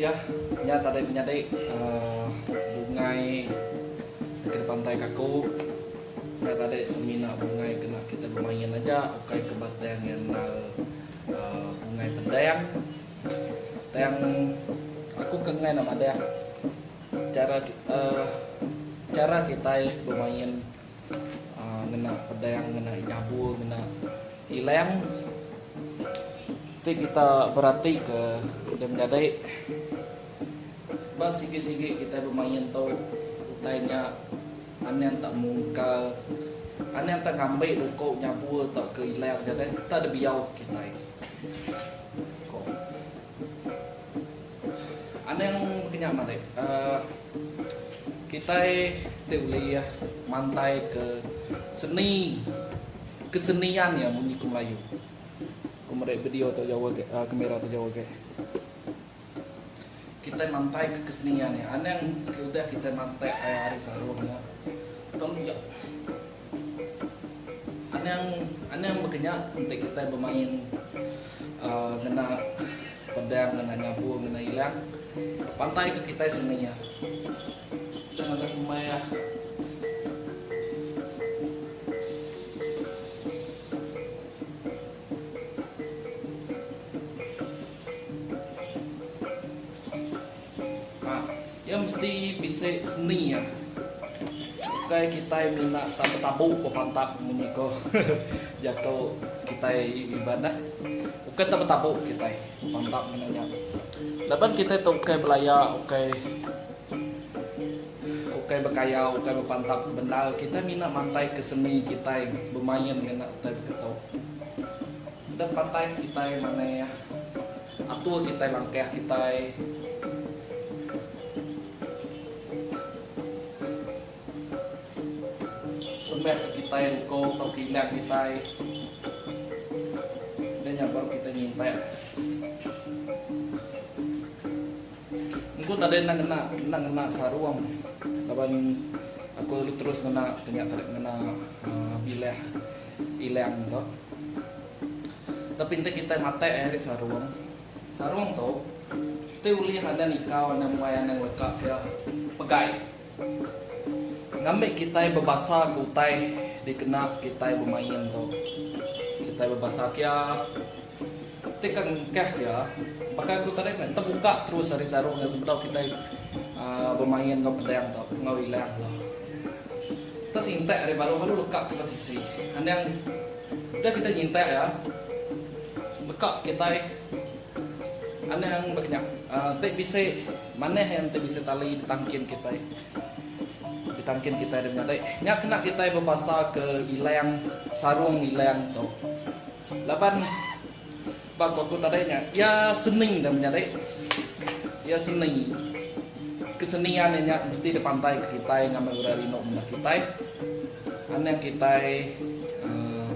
Iya nya tadai menyadi bungai ke dipantai kaku. Nya tadi semina bungai kena kita bemain aja ukai ke ba tang iya endar bungai pedang. Tang aku ke enggai enda madah chara kitai bemain. Ngena pedang, ngena inyabu, ngena ilang ti kita beratika da menyadi ba sigi-sigi kita bemain tu utai nya anang tak mungkal, anang tak ngambi luko nyabu tauka ilang nya deh enta dibiau kitai, ku. Anang bekenya malik, kitai ti ulih mantaika seni kesenian iya munyi ku Melayu. Ku meri video tu jauh agi, kemera tu jauh agi. Kitai mantaika kesenian iya. Anang udah kitai mantai ari sarung iya, tang iya. Anang anang baka nya enti kitai bemain aaa ngena pedang ngena nyabur ngena ilang pantai ke kitai seni iya. Kita ngaga sembai ah. Ka, iya mesti bisi seni iya. Ukai kitai mina tabu-tabu ba pantat munyi ko jako kitai Iban dah. Ukai tabu-tabu kitai ba pantat mino nya. Laban kitai tu ukai belaya, ukai ukai bekaya, ukai ba pantat bendar, kitai mina mantai ke seni kitai bemain ngena utai beketo. Dep pantai kitai manai iya. Atur kitai langkah kitai. Sembah ke kitai ruko tau kilang kitai. Udah nya baru kitai nyintak. Engku tadi endang ngena, endang ngena sarung laban aku lalu terus ngena ke nya tadi ngena bilah ilang tu. Tapi enti kitai matai ai ari sarung, sarung tu kitai ulih anang ikau anang muai anang leka dia pegai ngambi kitai bebasa ke utai dikena kitai bemain tu. Kitai bebasa kia ti ka ngengkah dia baka aku tadi meh tebuka terus ari sarung sebedau kitai aaa bemain enggau pedang tu enggau ilang tu. Kita sintak ari baruh alu leka ke betisi. Anang udah kitai nyintak iya, leka kitai anang bekenyap. Enti bisi manah iya enti bisi tali ditangkin kitai. Ditangkin kitai deh nyadi. Nya kena kitai bebasa ke ilang sarung ilang tu. Laban. Ba ko ko tadai nya iya seni enda meh nyadi. Iya seni. Kesenian iya nya mesti dipantai ke kitai ngambi orang rindu menda kitai. Anak kitai uhh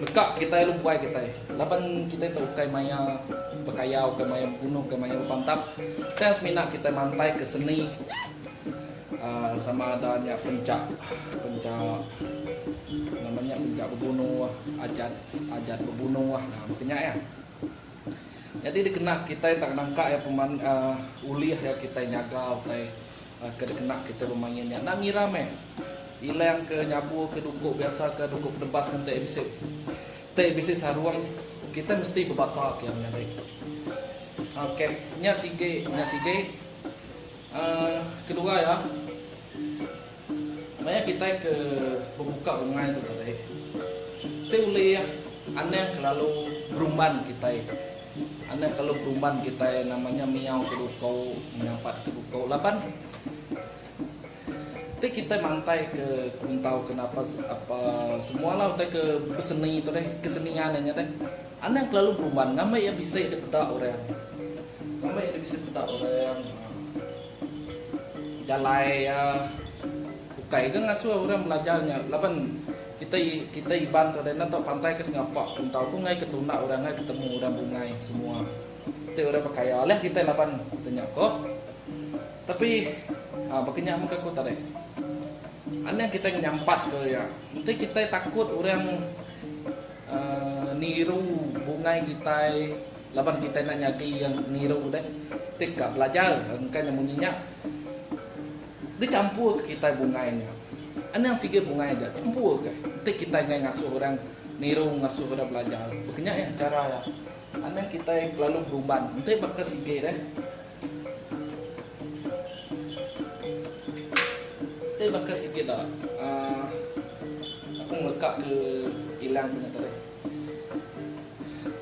leka kitai lu buai kitai. Laban kitai tu ukai maya bekayau ukai maya beguno ukai maya bepantap tang semina kitai mantai ke seni uhh sama ada nya penca penca nama nya penca beguno adat. Ajat bebunuh ah nah baka nya iya. Nyadi dikena kitai enda nangka iya peman uhh ulih iya kitai nyaga utai uhh ke dikena kitai bemain nya. Enda ngira meh ilang ke nyabur ke duku biasa ke duku bedebas ngan tai bisi tai bisi sarung kitai mesti bebasa ke iya menyadi. Ok nya sigi nya sigi uhh kedua iya. Enda iya kitai ke bebuka bungai tu tadi ti ulih anang kelalu berumban kitai tu. Anang kelalu berumban kitai nama nya miau ke duko, menyampat ke duko laban ti kitai mantai ke kuntau ke napa apa semua lah utai ke beseni tu deh, kesenian inya deh. Anang kelalu berumban ngambi iya bisi dipeda orang. Ngambi iya dibisi peda orang. Jalai iya ukai ga ngasuh orang belajar nya laban kitai kitai Iban tu deh enda tau pantai ke sengapa pun tau ku ngai ke tunda orang ngai ketemu orang bungai semua ti orang bekaya alih kitai laban ti nya ko. Tapi aaa baka nya mega ku tadi anang kitai ngenyampat ke iya enti kitai takut orang aaa niru bungai kitai. Laban kitai enda nyadi iya ngiru deh ti ka belajar engka nya munyi nya dicampur ke kitai bungai nya anang sigi bungai ja campur ke ti kitai enggai ngasuh orang niru ngasuh orang belajar baka nya iya chara iya anang kitai kelalu beruban enti baka sigi deh enti baka sigi da aaa aku ngeleka ke ilang punya tadi.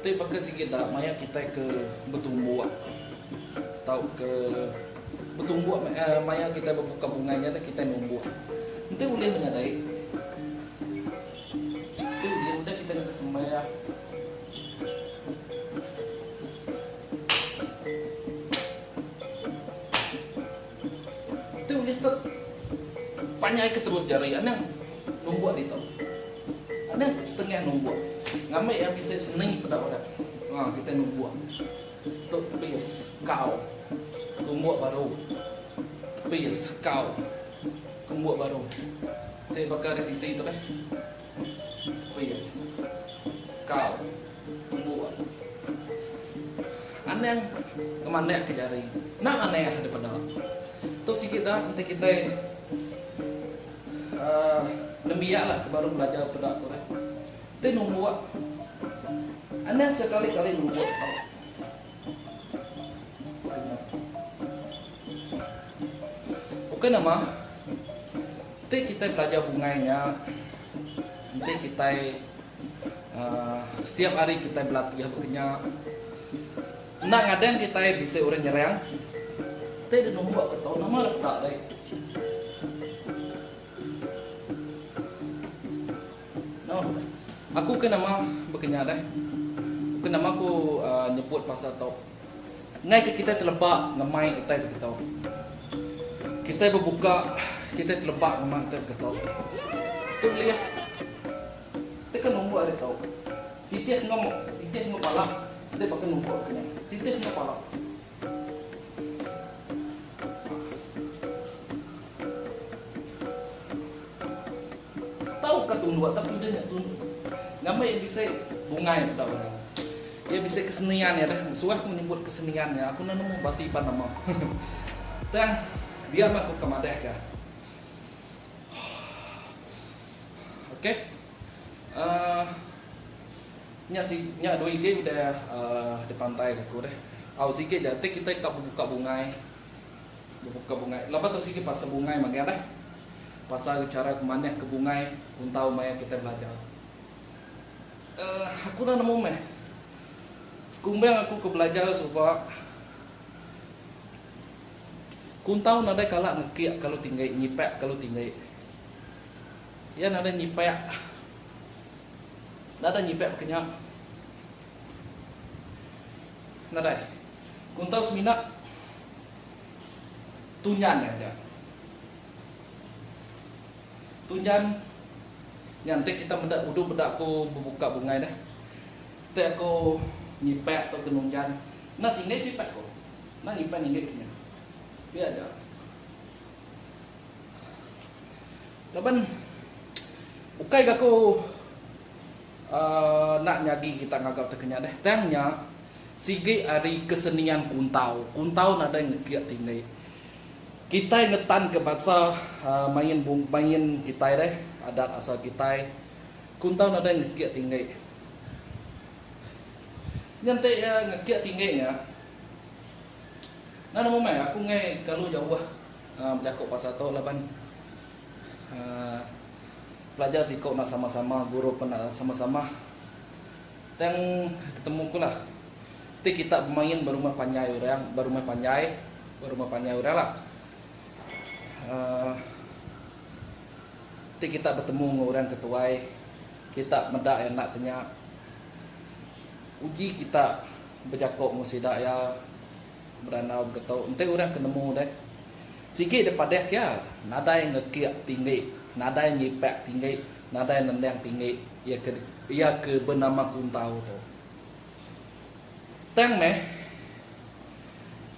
Ti baka sigi da maya kitai ke betumbuk tauka betumbuk maya kitai bebuka bungai nya deh kitai numbuk. Enti ulih menyadai enti ulih udah kitai ngagai sembahyang. Tu ulih tu. Panyaika terus jari anang numbuk ditu. Anang setengah numbuk. Ngambi iya bisi seni peda orang. Ha kitai numbuk. Tu pis kau. Tumbuk baru. Pis kau. Tumbuk baru. Ti baka ari tisi tu deh. Rias. Kau. Embu ah. Anang ngemanak ke jari. Enda manah deh peda. Tu sigi da enti kitai uhh nembiak lah ke baru belajar peda tu deh. Ti numbuk. Anang sekali kali numbuk tau. Ukai nama, enti kitai belajar bungai nya, enti kitai aaa setiap hari kitai belatih baka nya, enda ngadan kitai bisi orang nyerang. Kitai deh numba ke tau nama deh peda deh. Noh. Aku ke nama bekenyah deh. Ke nama ku nyebut pasal tu. Ngai ke kitai teleba ngemai utai beketu. Kitai bebuka, kitai teleba ngemai utai beketu. Tu ulih. Teka numbuk ari tu. Titih enggau titih enggau pala kitai baka numbuk ke nya. Titih enggau pala. Nah. Tau ka tunduk tapi udah nya tunduk. Ngambai iya bisi bungai peda orang. Iya bisi kesenian iya deh. Suah ku nyebut kesenian iya aku enda nemu basi pan nama. Tang dia mah ku ke madah ka. Ok. Uh, nya si nya dua ige udah uh, dipantai aku deh. Au sigi ja ti kita ka buka bungai. Bebuka bungai. Laban tu sigi pasal bungai magang deh. Pasal chara ke manah ke bungai untau maya kitai belajar. Uhh aku enda nemu meh. Sekumbang aku ke belajar suba kuntau nadai kala ngekik kalu tinggi, nyipak kalu tinggi. Iya nadai nyipak, nadai nyipak baka nya. Nadai. Kuntau semina Tunyan aja. Tunyan nya enti kita meda udup meda aku bebuka bungai deh. Enti aku nyipak tu ke nunyan. Enda tinggi sipak ku. Enda nyipak tinggi ke nya. Pia aja. Laban ukai ga aku aaa nak nyagi kita ngaga ti ke nya deh. Tang nya. Sigi ari kesenian kuntau, kuntau nadai ngekik tini. Kitai ngetanka bansa main main kitai deh, adat asal kitai. Kuntau nadai ngekik tini. Nya enti ngekik tini nya, nan amu meh aku enggai kalu jauh bejaku pasal tu laban pelajar siku enda sama-sama, guru pun enda sama-sama. Tang ketemu ku lah. Ti kita bemain berumah panjai orang berumah panjai berumah panjai orang lah. Aaa ti kita betemu enggau orang ke tuai kita meda iya enda tanya uji kita bejako enggau sida iya berandau begeto enti orang ke nemu deh sigi deh padeh ke iya nadai ngekik tinggi nadai nyipak tinggi. Nadai nendang tinggi iya ke iya ke benama Kuntau tu. Tang meh,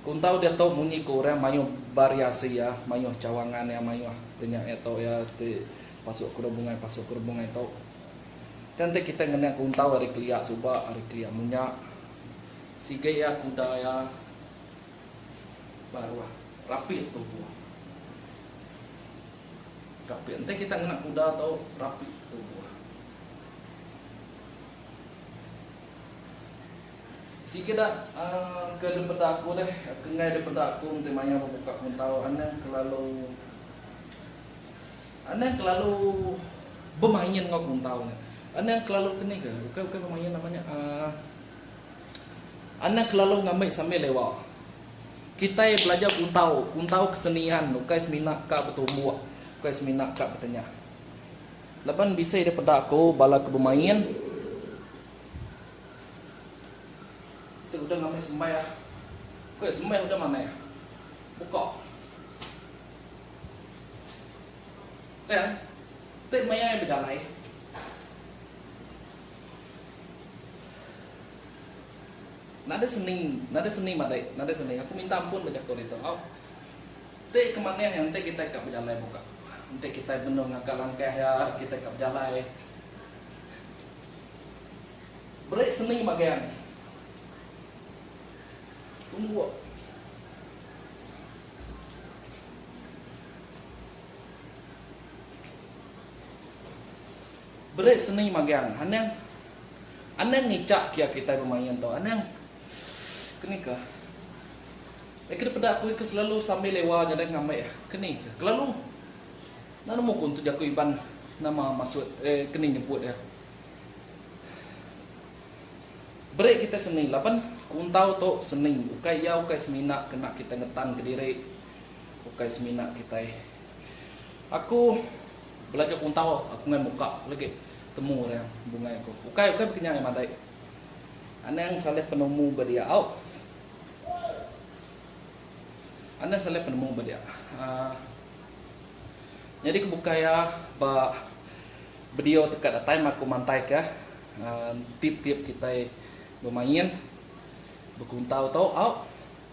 Kuntau diatu munyi ke orang mayuh bariasi iya, mayuh cawangan iya, mayuh tenya iya tu iya ti pasu ke rubungai pasu ke rubungai tu. Tang ti kitai ngenang Kuntau ari kelia suba, ari kelia munya. Sigi iya kuda iya baruh, rapit tubuh. Kapit enti kita ngena kuda tu rapi ke tubuh. Sikeda ke depeda aku deh ke enggai depeda aku enti maya bebuka kuntau anang kelalu anang kelalu bemain enggau kuntau nya. Anang kelalu ke ni ke bukai bukai bemain nama nya aaa. Anak lalu ngambi sambil lewa. Kitai belajar kuntau, kuntau kesenian ukai semina ka betumbuk, ukai semina ka betengah. Laban bisi deh peda ko bala ke bemain. Ti udah ngambi sembah, ko sembah udah manah. Buka. Tang, ti maya bejalai. Nadai seni, nadai seni madai, nadai seni. Aku minta ampun ba jaku ditu. Au. Ti ke manih iya enti kitai ka bejalai buka. Enti kitai benung ngaga langkah iya, kitai ka bejalai. Beri seni magang. Tungguk. Beri seni magang anang. Anang ngicak kia kitai bemain tau anang. Keni ka. Eka di peda aku eka selalu sambil lewa nyada ngambai ah. Keni ka. Kelalu. Enda nemu ku ntu jaku Iban nama masut eh keni nyebut eh. Beri kitai seni laban kuntau tu seni ukai iya ukai semina kena kitai ngetan kediri. Ukai semina kitai. Aku belajar kuntau aku ngai muka legi temu orang bungai aku. Ukai ukai beki nya ngai madai. Anang salih penemu ba dia au. Anang salih penemu ba dia. Uh, nyadi ke bukai ya ba video teka that time aku mantai ke uh, tip-tip kitai bemain bekuntau tau au.